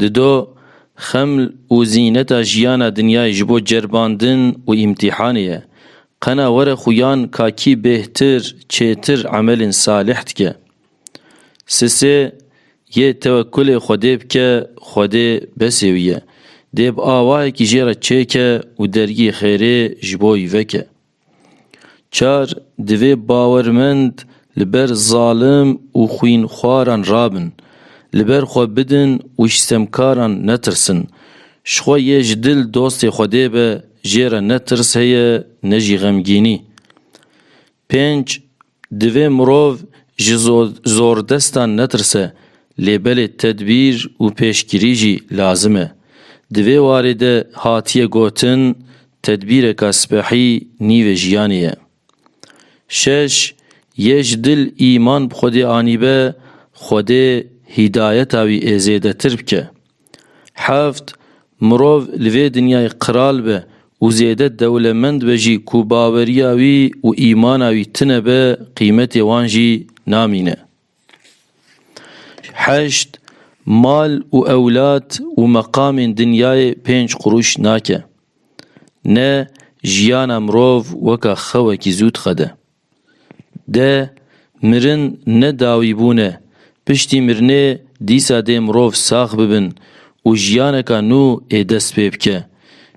Dido, xeml û zîneta jiyana dinyayê ji bo ceribandin û îmtîhanê ye. Qena were xuyan ka kî bêhtir, çêtir emelên salîh dike. Sisê, yê tewekkulê Xwedê bike, Xwedê besê wî ye. Dê bi awayekî jê re çêke û dergî xêrê ji bo wî veke. Çar, divê bawermend li ber zalim û xwînxwaran rabin, li ber xwe bidin û ji stemkaran netirsin. Ji xwe yê ji dil dostê Xwedê be, jê re ne tirs heye ne jî xemgînî. Pênc, Divê mirov ji zordestan netirse, lê belê tedbîr û pêşgirî jî lazim e. Di vê warê de hatiye gotin, Tedbîreka sipehî nîvê jiyanê ye. Şeş, Yê ji dil îman bi Xwedê anîbe, Xwedê hîdayeta wî ê zêdetir bike. Heft, Mirov li vê dinyayê qral be û zêde dewlemend be jî ku baweriya wî û îmana wî tune be qîmetê wan jî namîne. Heşt, Mal û ewlad û meqamên dinyayê pênc qurûş nake. Ne jiyana mirov weka xewekî zû dixede. De mirin ne dawî bûn e, piştî mirinê dîsa dê mirov sax bibin û jiyaneka nû ê dest pê bike.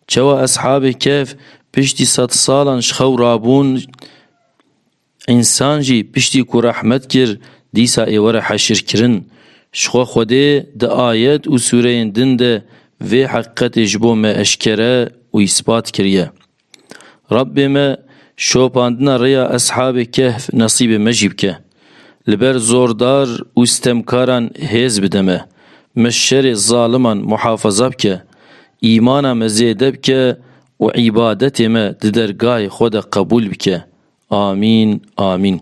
Çawa Eshabê Kehf piştî sed salan ji xew rabûn, însan jî piştî ku rehmet kir dîsa ê were heşirkirin. Ji xwe Xwedê di ayet û sûreyên din de vê heqîqetê ji bo me eşkere û îspat kiriye. Rabbê me şopandina rêya eshabê kehf nesîbê me jî bike. Li ber zordar û stemkaran hêz bide me. Me şerê zaliman muhafaza bike. Îmana me zêde bike û îbadetê me di dergahê xwe de qebûl bike. Amîn, amîn.